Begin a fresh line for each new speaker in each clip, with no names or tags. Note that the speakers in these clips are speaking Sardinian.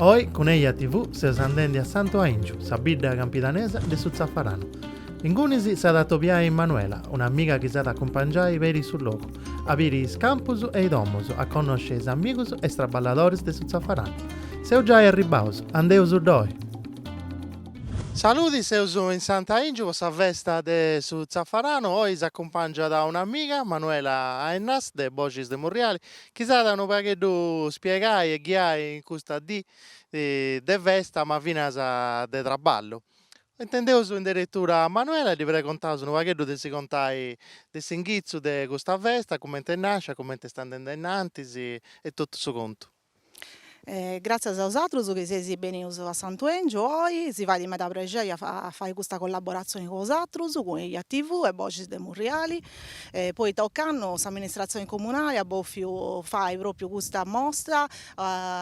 Oi cun Eja TV seus andendi a Santu Aingiu, sa bidda campidanesa de su Tzafaranu. Ingunis s'at a atobiai Manuela, un'amiga chi s'at a acumpangiai peri su logu, a biri is campus e is domus, a connosci is amigus e is traballadoris de su Tzafaranu. Seus giai arribbaus, andeus ddoi! Saludi, seus in Santu Aingiu po sa festa de su Tzafaranu, oi s'acumpangiat un'amiga, Manuela Ennas de Boxis de Murriali, Chi s'at a unu pagheddu spiegai e ghiai in custa dì de festa ma finas de traballu. Intendeus in deretura a Manuela e ddi pregontaus unu pagheddu de si contai de s'inghitzu de custa festa, cumenti est nàscia, cumenti est andende in antis e totu su contu.
E gràtzias a osatrus chi seis benius a Santu 'Engiu oi, si fait meda prexeri a fai custa collaboratzioni cun osatrus, cun Eja TV e Boxis de Murriali, poita ocannu s'amministratzioni comunali at bòfiu fai pròpiu custa mostra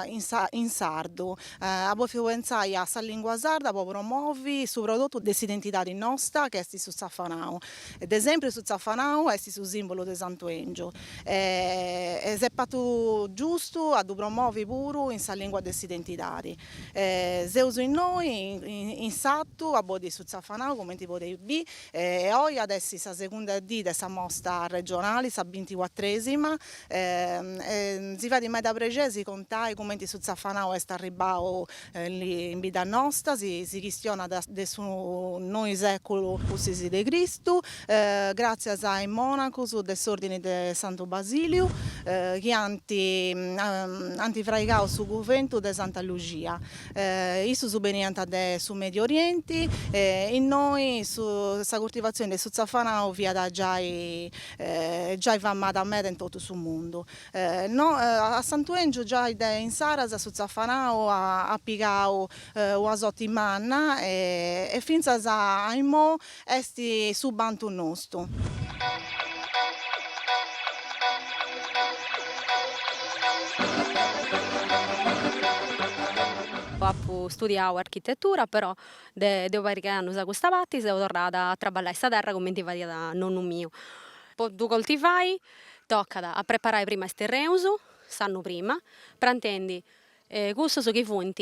in sa in sardu, at bòfiu pentzai a sa lìngua sarda po promovi su prodotu de s'identidadi nosta chi est su tzafanau, de sempri su tzafanau est su sìmbulu de Santu 'Engiu. e s'est patu giustu a ddu promovi puru in sa lìngua de s'identidadi. Seus innoi in s'atu a bodi su Tzafanau cumenti podeis bi, e oi at essi sa segunda dì de sa mosta regionali, sa binticuatrèsima, e si fait meda prexei si contai cumenti su Tzafanau est arribbau In bidda nosta si chistionat de su noi sèculu pustis de Cristu, gràtzias a is mònacus de s'Òrdini de Santu Basiliu chi ant ant fraigau su cuventu de Santa Luxia. Issus beniant de su Medi Orienti e innoi su sa curtivatzioni de su tzafanau fiat giai giai famada meda in totu su mundu. Innoi a Santu 'Èngiu giai de insaras su tzafanau at pigau una soti manna e fintzas a immoi est su bantu nostu.
Apu studiau architetura però de de una pariga 'e annus a custa parti seu torrada a traballai sa terra cumenti fadiat nonnu miu po ddu coltivai Tocat a preparai prima is terreus, s'annu prima, prantendi cussus chi funt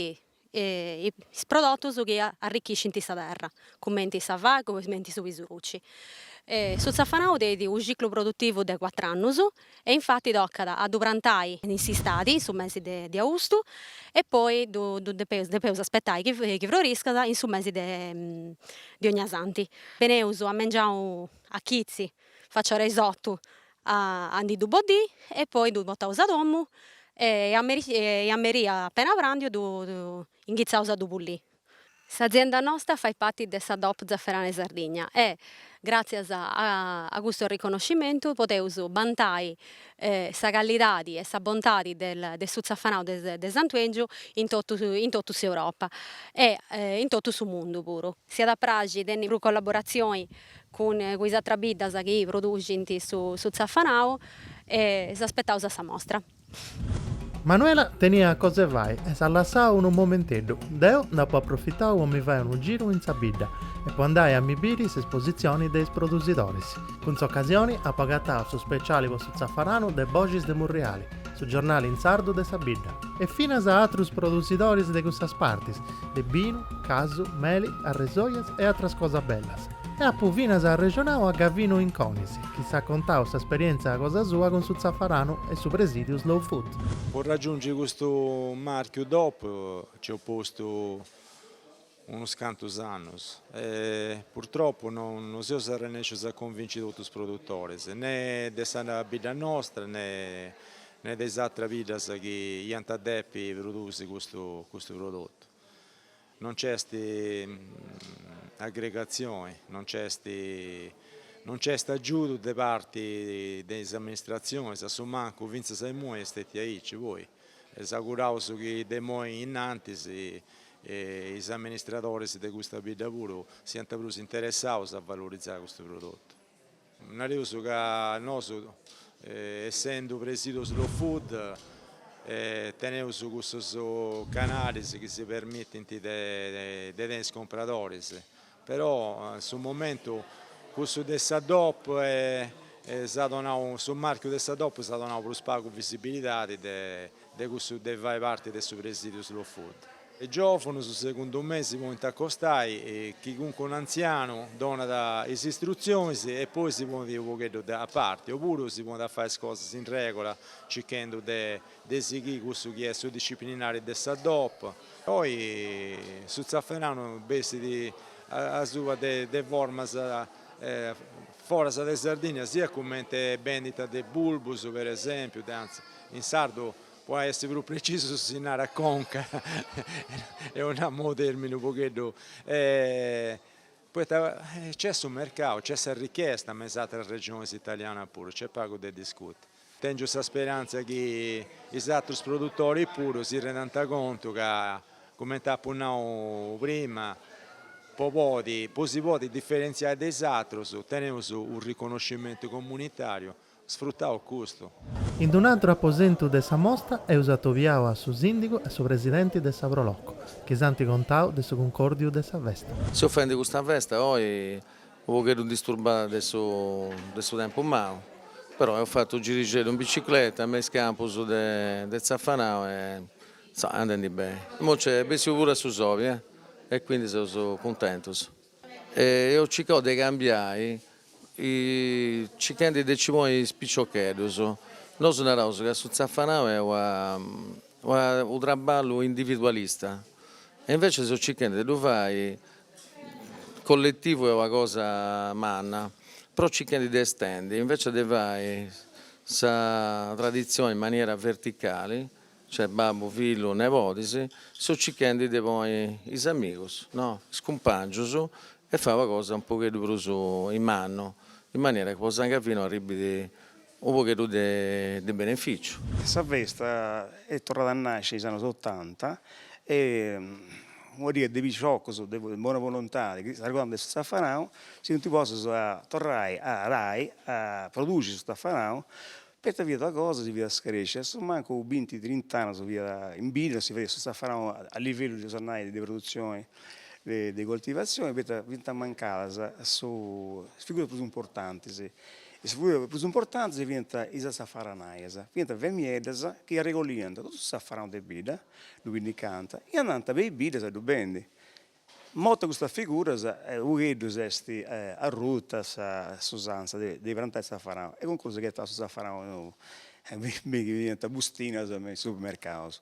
is prodotus chi arrichischint sa terra, cumenti sa fa, cumenti su pisurci. Su tzafanau tenit u' ciclu produtivu de cuatru annus e infati tocat a ddu prantai in s'istadi, in su mesi de austu, e poi ddu depeus depeus aspetai chi chi froriscat in su mesi de de ognasanti. Beneus a mengianu a chitzi Faci a ora 'e is otu a a ndi ddu boddì e poi ddu potaus a domu e a meri e a meri appena prandiu ddu inghitzaus a ddu pullì. S'azienda nosta fait pati de sa DOP Zafferanu 'e Sardigna e gràtzias a custu riconoscimentu podeus bantai sa callidadi e sa bontadi de su tzafanau de Santu 'Engiu in totu in totu s'Europa e in totu su mundu puru. S'iat a praxi tenni prus collaboratzioni cun cun is atras biddas chi produxint su su tzafanau e is aspetaus a sa mostra.
Manuela teniat cosa 'e fai e s'at lassau unu momenteddu, deu nd'apu aprofitau po mi fai unu giru in sa bidda e po andai a mi biri s'esposizioni de is produsidoris. Cun s'occasioni apu agatau su speciali po su tzafaranu de Boxis de Murriali, Su giornali in sardu de sa bidda. E finas a atrus produsidoris de cussas partis, de binu, casu, meli, arresojas e atras cosas bellas. E apu finas arrexonau a Gavinu Inconis, chi s'at contau s'esperientzia cosa sua cun su tzafaranu e su presidiu Slow Food. Po raggiungi
custu marchiu DOP nci eus postu. unus cantus annus e purtropu no seus arrennescius a convinci totus is produtoris, ne de sa bidda nostra ne de is atras biddas chi iant a depi produsi custu custu prodotu. No nc'est aggregatzioni, no nc'est no nc'est agiudu de parti de is amministratzionis, a su mancu fintzas a imui est stetiu aici, poi E s'auguraus chi de imoi in antis is amministradores de custa bidda puru siant prus interessados a valorizai custu prodotu. Nareus ca nosu essendu Presidiu Slow Food teneus cussus canalis chi si permittint de tenni is compradoris, Però in su momentu cussu de sa dop s'at donau, su marchiu de sa dop s'at donau prus pagu visibilidadi de cussu de fai parti de su presidiu Slow Food. Is giovunus, segundu mei, si podint acostai chi calincunu antzianu donat is istrutzionis e poi si ponint u' pogheddu a parti, opuru si podint fai is cosas in regula circhendu de De sighì cussu chi est su disciplinari de sa DOP. Poi su Zafferanu bessit asuba de formas foras de Sardigna, siat cumenti bendita de bulbus per esempiu, anzi, in sardu po essi prus precisus si narat conca, eus a nau u' termini u' pogheddu Poita nc'est su mercau, nc'est sa richesta, me is atras regionis italianas puru, nc'est pagu de discuti. Tengiu sa speranza chi is atrus produtoris puru si rendant contu ca, cumenti apu nau prima, po podi, po si podi diferentziai de is atrus, teneus u' riconoscimentu comunitariu Sfrutau custu. In
d'un'atru aposentu de sa mostra eus atobiau a su sìndigu e a su presidenti de sa Pro Loco, chi s'ant contau de su cuncòrdiu de sa festa. Seus fendi custa
festa oi unu pogheddu disturbada de su de su tempus mau, però eus fatu su girixeddu in bicicleta me is campus de zafanau e est andendi beni. Imoi nc'est bessiu puru su soli e quindi seus cuntentus. E eus cicau de cambiai cicchendi de ci poni is piciocheddus, nosu naraus ca su zafanau est una una unu traballu individualista e invece seus cicchendi de ddu fai colletivu est una cosa manna, però cicchendi de estendi invece de fai sa tradizioni in maniera verticali Cioè babbu, fillu, nebodis, seus circhendi de poni is amigus, no, is cumpangius, e fai una cosa un pogheddu prus in mannu, in maniera chi po San Gavinu arribbit u' pogheddu de beneficiu. Sa
festa est torrada a nasci in is annus otanta e un'idea de piciocus de bona volontadi chi s'arregordant de su zafanau si funt postus a torrai a arai a produxi su zafanau Poita fiat una cosa, si fiat scarèscia, a su mancu binti trint'annus fiat in bidda, no si fadiat su zafaranu a livellu bolis nai de produzioni de coltivazioni, poita fiant mancadas su is figuras prus importantis, is figuras prus importantis fiant is zafaranaias, fiant femieddas chi arregolliant totu su zafaranu de bidda, ddu pinnicànt e andànt me is biddas a ddu bendi Mortas custas figuras, u' pogheddu est arruta s'usanza de de prantai zafaranu e cun cussu chi agatast su zafaranu fiat in bustinas me is supermercaus.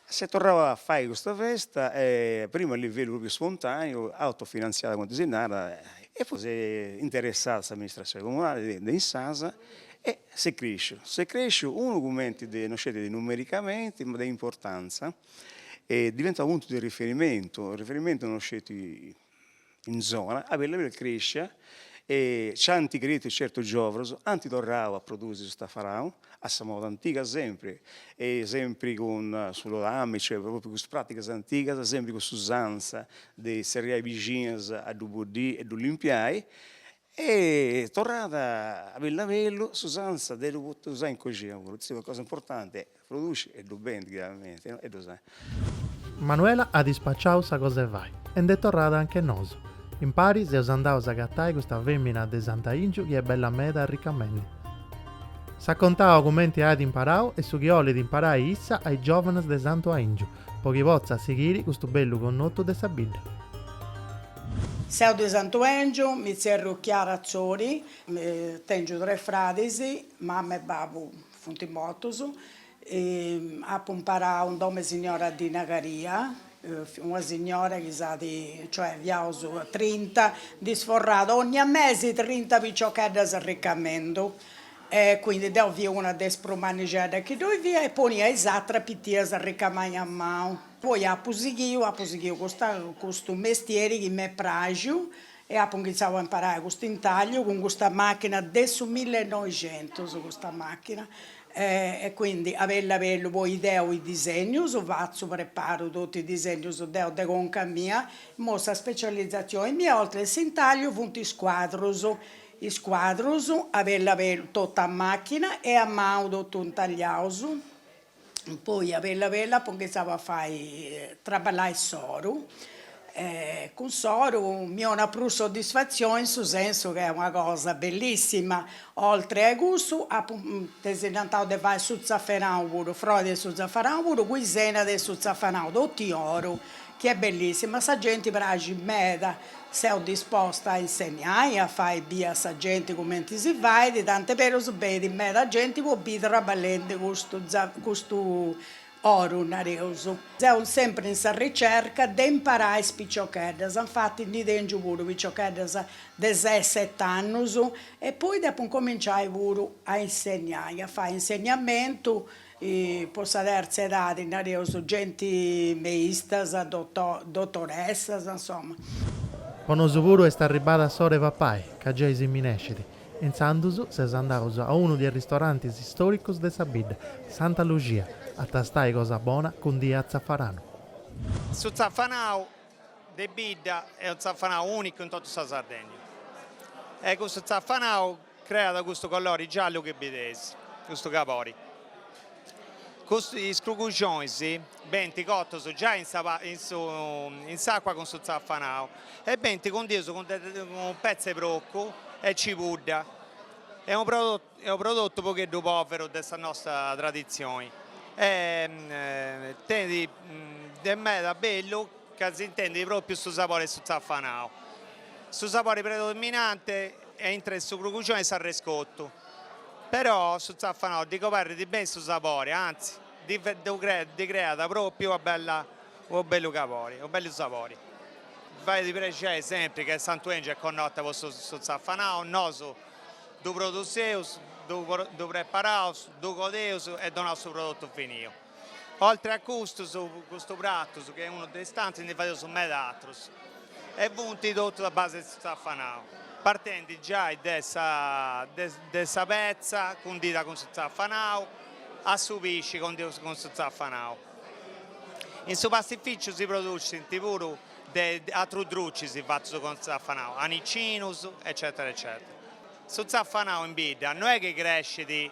S'est torrau a fai custa festa e prima a livellu propriu spontaneu, autofinantziada cumenti si narat e poi s'est interessada s'amministratzioni comunali de de insaras e s'est cresciu, s'est cresciu unu cumenti, no sceti de numericamenti ma de importanza est diventau puntu de riferimentu, riferimentu non sceti in zona, a bellu a bellu crèscia e nc'ant creitu certus giòvunus, ant torrau a produsi su tafaranu a sa moda antiga sempri e sempri cun su lodami, cioè propriu cun is pràtigas antigas, sempri cun s'usanza de zerriai bixinas a ddu boddiri e ddu limpiai Est torrada a bellu a bellu s'usanza de ddu pote usai in coxina puru, est una cosa importanti e produci e ddu bendi chiaramente no e ddu usai. Manuela
at ispaciau sa cosa 'e fai e nd'est torrada anche nosu. Impari seus andaus a agatai custa femina de Sant'Aingiu chi est bella meda arricamendi. S'at contau cumenti at imparau e su chi 'olit imparai issa a is giovanas de Santu Aingiu, po chi potzat sighiri custu bellu connotu de sa bidda.
Seu de Santuèngiu, mi tzerru Chiara Atzori, tèngiu tres fradis, mama e babu funt mortus, apu imparau in domu 'e signora Dina Caria, una signora chi s'at, cioè fiaus trinta, ndi sforrat ogna mesi trinta piciocheddas arricamendu, e quindi deu fia una de is prus mannixeddas chi ddoi fia e ponia is ateras pitias a ricamai a manu Poi apu sighiu, apu sighiu custa custu mestieri chi m'est praxiu e apu inghitzau a imparai custu intagliu cun custa machina de su millenoixentus custa machina e quindi a bellu a bellu poi deo is disegnus fatzu preparu totu is disegnus deo de conca mia, imoi sa specializzazioni mia oltre a s'intagliu funt is cuadrus, is cuadrus a bellu a bellu totu a machina e a manu totu intagliaus poi a bellu a bellu apo inghitzau a fai traballai s'oru e cun s'oru mi 'onat prus soddisfatzioni in su sensu chi est una cosa bellissima, oltre a cussu apu tesinantau de fai su tzafanau puru, frori de su tzafanau puru cun is enas de su tzafanau totu in oru chi est bellissima, a sa genti praxit meda Seu disposta a insegnai e a fai bia a sa genti cumenti si fait, tant'est berus benit meda genti po bì traballendi custu custu oru, nareus. Seu sempri in sa ricerca de imparai is piciocheddas, infati ndi tengiu puru piciocheddas de ses set'annus e poi depu incominciai puru a insegnai, a fai insegnamentu e po sa terza edadi nareus genti meistas, dotoressas, insoma. Po nosu
puru est arribbada s'ora 'e papai, ca giai si minescit. Intzandus seus andaus a unu de is ristorantis storicus de sa bidda, Santa Luxia, a tastai cosa bona cundia a tzafaranu.
Su tzafanau de bidda est unu tzafanau unicu in totu sa Sardegna e cussu tzafanau Creat custu colori giallu chi bideis, custu cabori. Is cruguxonis benti cotus giai in sa in s'acua cun su zafanau e benti cundius cun de petza 'e procu e cibudda. Est unu est unu prodotu unu pogheddu poveru de sa nosta traditzioni e tenit de meda bellu ca s'intendit propriu su sabori 'e su zafanau. Su sabori predominante aintru 'e su cruguxoni est s'arrescotu, però su zafanau ddi coberrit beni su sabori, antzi ddi creat pròpiu una bella, unu bellu cabori, unu bellu sabori. Fait prexeri sempri ca Santu 'Engiu est connota po su zafanau, nosu ddu produseus, ddu preparaus, ddu codeus e donaus su prodotu finiu. Oltre a custus, custu pratu, su chi est unu de is tantus, ndi fadeus meda atrus e funt totus a base de su tzafanau, partendi giai de sa de sa petza cundida cun su tzafanau a su pisci condiu cun su tzafanau. In su pastificiu si producint puru de atrus drucis fatus cun su tzafanau, anicinus eccetera eccetera. Su tzafanau in bidda no est chi crescit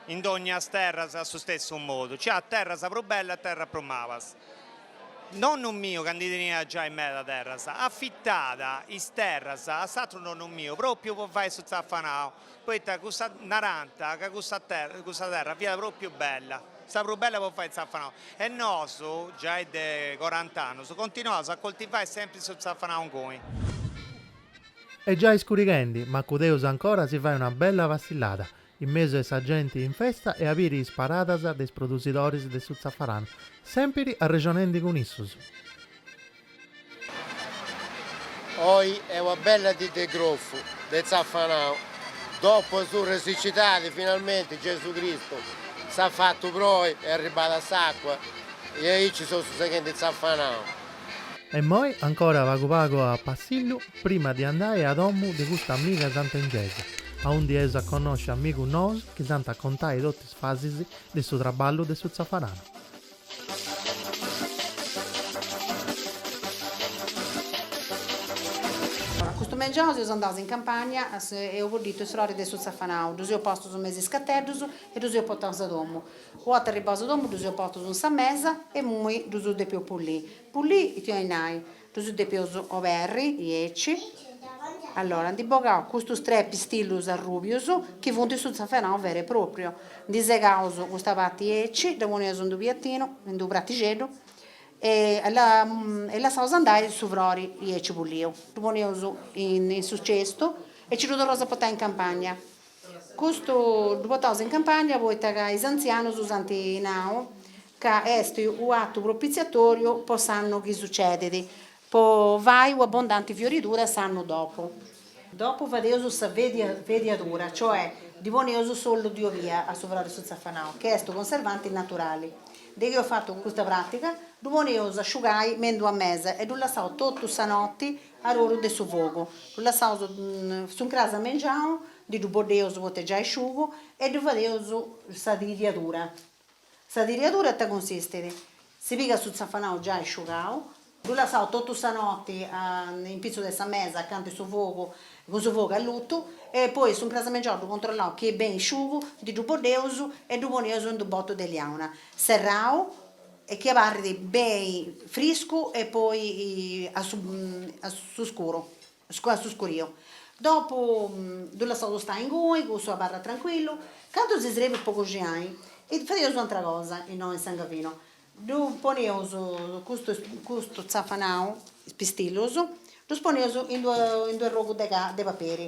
In dognas terras a su stessu modu, nci at terras prus bellas e terras prus malas. Nonnu miu, ca ndi teniat giai meda terras, afitàt is terras a s'atru nonnu miu, pròpiu po fai su tzafanau, poita cussa, narànt ca cussa terra fiat pròpiu bella, sa prus bella po fai tzafanau. E nosu, giai de corant'annus, continuaus a coltivai sempri su tzafanau inguni.
Est giai iscurighendi, ma cun Deus ancora si fait una bella passillada, in mesu 'e sa genti in festa e a biri is paradas de is produsidoris de su zafaranu, sèmpiri arrexonendi cun issus.
Oi est una bella dì de grofu, de zafanau, dopu su de sicidadi finalmenti Gesu Cristu s'at fatu proi est arribada s'àcua e aici seus seghendi zafanau. E
immoi ancora pagu pagu a passillu prima de andai a domu de custa amiga sant'Engesa, aundi eus a connosci amigus nous chi s'ant a contai totu is fasis de su traballu de su tzafaranu.
Custu mengianu seus andaus in campagna, eus bodditu is froris de su tzafanau, ddus eus postus me is iscateddus e ddus eus portaus a domu. Arribaus a domu ddus eus portus in sa mesa e imoi ddus depeus pulì. Pulì ita 'oit nai? Ddus depeus oberri aici. Allora ndi bogaus custus tres pistillus arrubius chi funti su tzafanau veru e propriu. Ndi segaus custa parti aici, dda poneus in d'u piattinu, in d'u prattixeddu e e lassaus andai su frori aici puliu. Ddu poneus in su cestu e ci ddu torraus a portai in campagna. Custu ddu potaus in campagna poita ca is antzianus si ant nau ca est u' atu propitziatoriu po s'annu chi sucedit, po fai u' abundanti fioridura s'annu dopu. Dopu fadeus sa vediadura, cioè ddi poneus s'ollu di obia a su frori de su tzafanau, ca est u' conservanti naturali. De chi eus fatu custa pràtiga, ddu poneus a asciugai me in d'ua mesa e ddu lassaus totu sa noti A oru de su fogu. Ddu lassaus su ncras mengiau, ndi ddu boddeus poit'est giai sciugu e ddu fadeus sa tridiadura. Sa tridiadura in ita cunsistit? Si pigat su tzafanau giai sciugau, ddu lassaus totu sa noti a in pitzus de sa mesa acanta 'e su fogu, cun su fogu allutu, e poi su ncras mengiau ddu controllaus chi est beni sciugu, ndi ddu boddeus e ddu poneus in d'unu botu de liauna serrau, e chi abarrit beni friscu e poi a su a su scuru a su scuriu, dopu ddu lassaus stai inguni, cussu abarrat trancuillu, candu si srebit po coxinai e fadeus u' atra cosa innoi in Sangavino, ddu poneus custu custu tzafanau, is pistillus, ddus poneus in d'u' arrogu de de paperi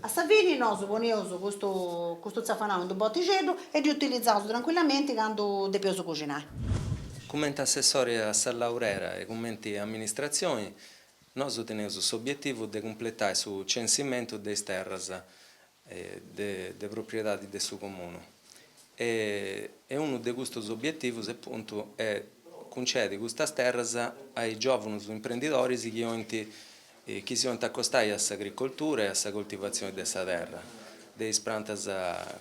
A sa fini nosu poneus custu custu tzafanau in d'u botixeddu e ddu utilizaus trancuillamenti candu depeus cuxinai. Cumenti
assessori a sa Laurera e cumenti amministratzioni nosu teneus s'obietivu de cumpletai su censimentu de is terras de de propriedadi de su comunu e e unu de custus obietivus apuntu est cuncedi custas terras a is giovunus imprendidoris chi 'olint chi si 'olint acostai a s'agricoltura e a sa coltivatzioni de sa terra, de is prantas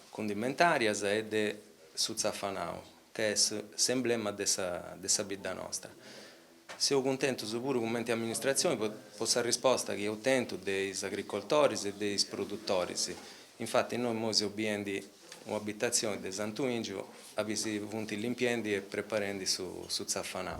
cundimentàrias e de su tzafanau, ca est s'emblema de sa de sa bidda nostra. Seus cuntentus puru cumenti amministratzioni po po sa risposta chi eus tentu de is agricoltoris e de is produtoris, infati innoi imoi seus biendi Una abitazioni de Santu Ingiu abì si funt limpiendi e preparendi su tzafanau.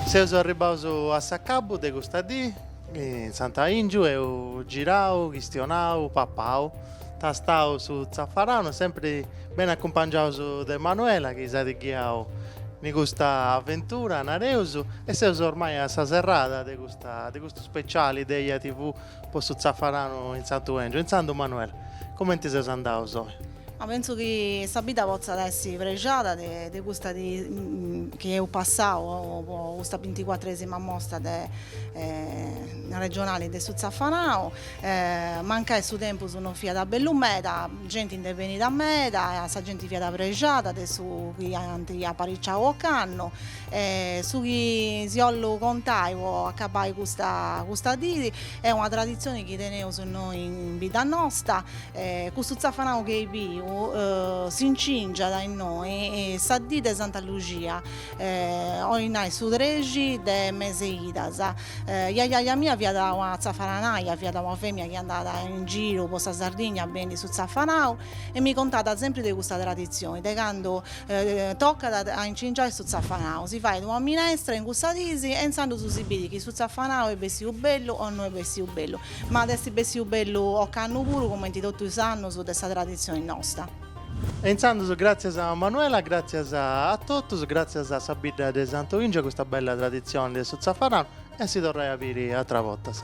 Seus arribaus a s'acabu de custa dì. In Santu 'Aìngiu eus girau, chistionau, papau, tastau su tzafaranu, sempri beni acumpangiaus de Manuela chi s'at ghiau in custa aventura, nareus, e seus ormai a sa serrada de custa de custu speciali de Eja TV po su tzafaranu in Santu 'Engiu. Intzandus Manuela, cumenti seus andaus oi? Ma pensu
chi sa bidda potzat essi prexada de de custa de chi eus passau po custa binticuatresima Mostra de regionali de su Zafanau, mancai su tempus non fiat bellu meda, genti nd'est benida meda, sa genti fiat prexada de su chi ant apariciau ocannu e su chi si 'ollu contai po acabai custa custa dìi est una traditzioni chi teneus innoi in bidda nosta E custu tzafanau chi eus biu s'incingiat innoi sa dì de Santa Luxia, 'ollit nai su trexi de meseidas. Jajàja mia fiat una tzafananaja, fiat una femina chi andàt in giru po sa Sardigna a bendi su tzafanau e mi contàt sempri de custa traditzioni de candu tocat a incingiai su tzafanau, si fait una minestra in cussa dìsi e intzandus si bidit chi su tzafanau est bessiu bellu o no est bessiu bellu. Ma at essi bessiu bellu ocannu puru comenti totu is annus de sa traditzioni nosta. E
intzandus gratzias a Manuela, gratzias a totus, gratzias a sa bidda de Santu 'Engiu, a custa bella traditzioni de su tzafaranu e a si torrai a biri atras bortas.